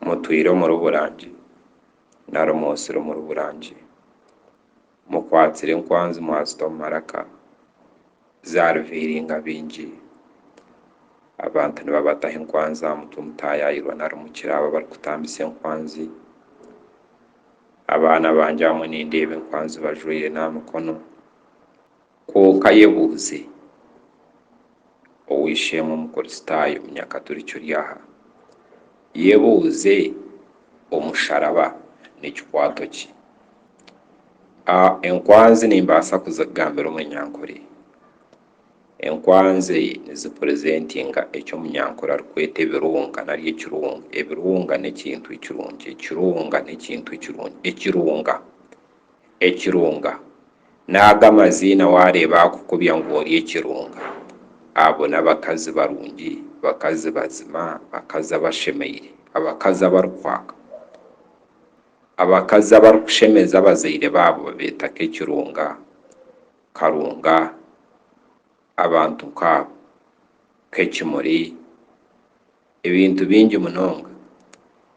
Mutwire omuri Burangi na Rumoosire omuri Burangi. Mukwatsire enkwanzi mwazita omu maraka, zariviiringa baingi. Abantu nibabataho enkwanzi aha mutwe mutaayaayirwa nari mukire abo abarikutambisa enkwanzi. Abaana bangye abamwe nindeeba enkwanzi bajwaire n'aha mikono. Kwonka yebuuze, Ow'eishe-emwe Omukristaayo Munyakaturiki ori aha, yebuuze, Omusharaba n'ekikwato ki? A Enkwanzi nimbaasa kuzigambira Omunyankore? Enkwanzi nizipurezentinga eki Omunyankore arikweta ebirunga nari ekirunga. Ebirunga n'ekintu ekirungi. Ekirunga n'ekintu ekirungi. Ekirunga. Ekirunga. N'aga amaziina waareeba akukubya ngu ori ekirunga. Abo n'abakazi barungi, bakazi bazima, bakazi abashemeire, abakazi abarikwaka. Abakazi abarikushemeza abazaire baabo babeeta ka ekirunga, karunga, abantu nk'abo, k'ekimuri, Ebintu bingi munonga.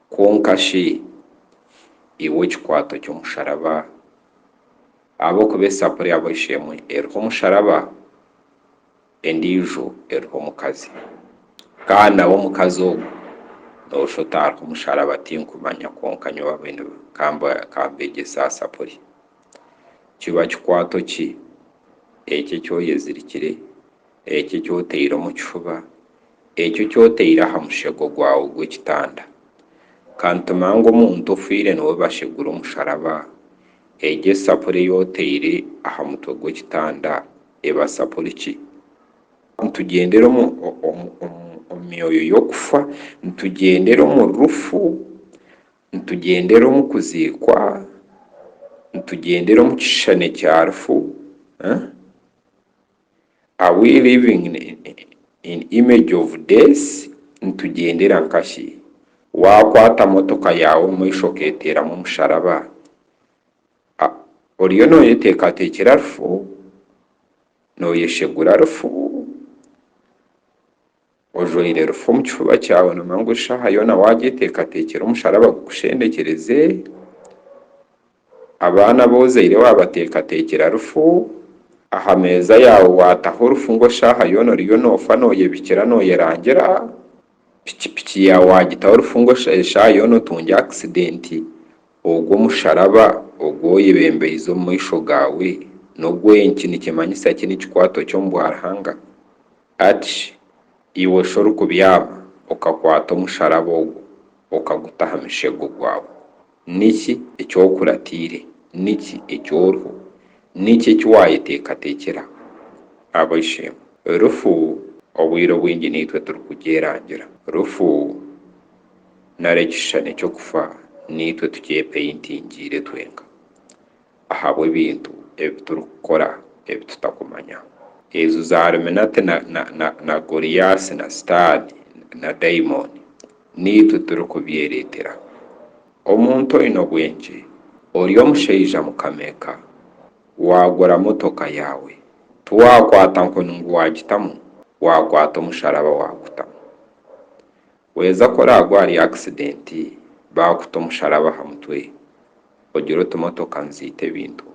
Kwonka shi iwe ekikwato ky'omusharaba? Ahabw'okuba esapuri ya bwaishi emwe eriho omusharaba, endiijo eriho omukazi. Kandi nawe omukazi ogu noosha oti, Hariho omusharaba, tinkumanya, kwonka nyowe abaine ka mbeegyese aha sapuri. Kiba kikwato ki eki eki oyezirikire? Ekyo eki otaire omu kifuba, ekyo eki otaire aha mushego gwawe gw'ekitanda. Ka nitume ngu omuntu ofiire niwe bashegura omusharaba, egyo esapuri ei otaire aha mutwe gw'ekitanda eba sapuri ki? Nitugyendera omu myoyo y'okufa, nitugyendera omu rufu, nitugyendera omu kuziikwa, nitugyendera omu kishushani kya rufu. Are we living in image of death? Nitugyendera nkashi? Waakwata motoka yaawe omu maisho okeeteeramu omusharaba, oriyo nooyeteekateekyera rufu? Nooyeshegura rufu? Ojwaire rufu omu kifuba kyawe nomangu eshaaha yoona wagyeteekateekyera omusharaba gukushendekyereze, abaana abu ozaire wabateekateekyera rufu, aha meeza yaawe waataho rufu ngu eshaaha yoona oriyo noofa nooyebikira nooyerangira, piki piki yaawe wagitaho rufu ngu eshaaha yoona otungye akisidenti, ogwo omusharaba ogu oyebembeize omu maisho gaawe n'ogw'enki nikimanyisa ki nikikwaatwa ki omu bwa Ruhanga? Ati, Iwe shi orikubyama okakwata omusharaba ogwo okaguta aha mushego gwawe? Niki eki okuratiire? Niki eki oriho? Niki eki waayeteekateekire aha? Ab'eishe-emwe, rufu obwire obwingi niitwe turikugyerangira. Rufu, nari ekishushani ky'okufa, niitwe tukyepaintingiire twenka. ahabw'ebintu ebi turikukora ebi tutakumanya. Ezo zaaluminati na Goliasi na Sitaane na daimoni niitwe turikubyereetera. Omuntu oine obwengye, ori omushaija mukama-eka, waagura motoka yaawe, tiwaakwata nkoni ngu waagitamu, waakwata omusharaba waagutamu. Waheza ku oraagwe ahari akisidenti baakuta omusharaba aha mutwe, ogire oti motoka niziita ebintu.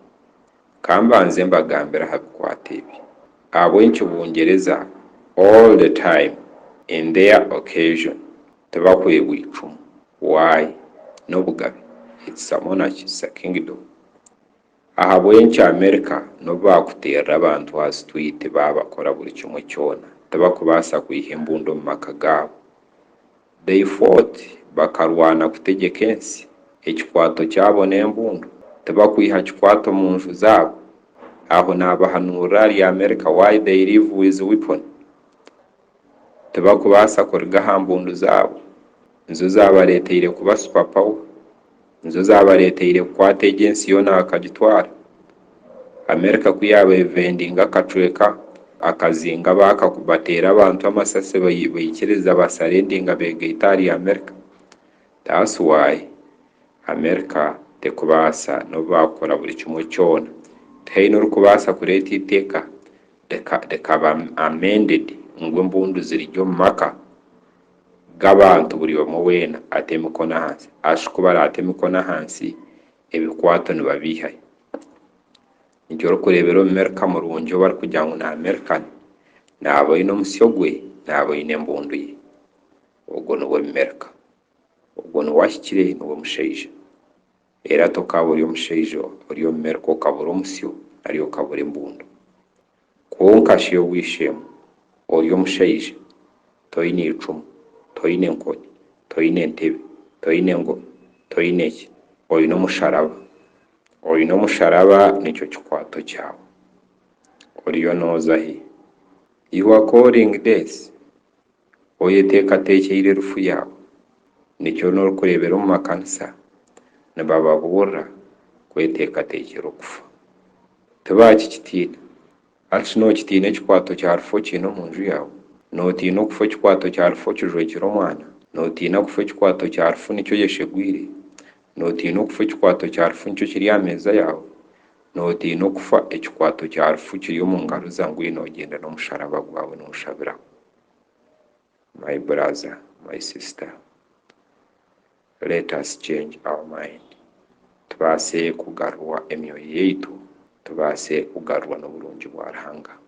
Ka mbanze mbagambire aha bikwate ebi ahabw'obu nkibungyereza all the time in their occasion tibahwebwa eicumu. Why? N'obugabe. It's a monarchy, it's a kingdom. Ahabw'enki Amerika n'obu baakuteerera abantu aha sitwiiti baabakora buri kimwe kyona, tibakubaasa kwiha embundu omu maka gaabo? They fought, bakarwana kutegyeka ensi, ekikwato kyabo n'embundu, tibakwiha kikwato omu nju zaabo? Aho naabahanuurira ahari Amerika why they live with weapon. tibakubaasa kuruga aha mbundu zaabo, nizo zaabareeteire kuba super power, nizo zaabareeteire kukwata egi ensi yoona bakagitwara, America ku yaaba evendinga akacweka akazinga bateera abantu amasasi baikiriza basaredinga beegaite ahari America, that's why America terikubaasa nobu baakora buri kimwe kyona tihaine orikubaasa kureeta eitaaka reka reka ba amended ngu embundu zirigye omu maka gabantu buri omwe wena ate emikono ahansi ashi ku barata emikono ahansi ebikwato nibabihayo nikyo orikurebera omumerika murungi owu barikugira ngu ni American naba oyine omusyo gwe naba oyine embundu ye ogwo nuwe omumerika ogwo nuwe ahikire nuwe mushaija. Reero ati okaaba ori omushaija ori omu Merika okaba ori omusyo nari okaba ori embundu. Kwonka shi obw'eishe-emwe, ori omushaija, toine icumu, toine enkoni, toine entebe, toine engoma, toine ki, oine omusharaba. Oine omusharaba nikyo kikwato kyawe. Oriyo nooza hi? You are calling death? Oyeteekateekyeire erufu yaawe, nikyo n'orikureebera omu makanisa nibababuurira kweteekateekyera okufa. Tibaakikitiina. Hati shi nookitiina ekikwato kya rufu okiine omu nju yaawe? Nootiina okufa ekikwato kya rufu okijwekire omwana? Nootiina kufa ekikwato kya rufu nikyo oyeshegwire? Nootiina okufa ekikwato kya rufu nikyo kiri aha meeza yaawe? Nootiina okufa ekikwato kya rufu kiri omu ngaro za ngwino ogyende n'omusharaba gwawe nooshabiraho? my brother my sister let us change our mind tubaase kugarurwa emyoyo yaitu tubaase kugarurwa n'oburungi bwa Ruhanga.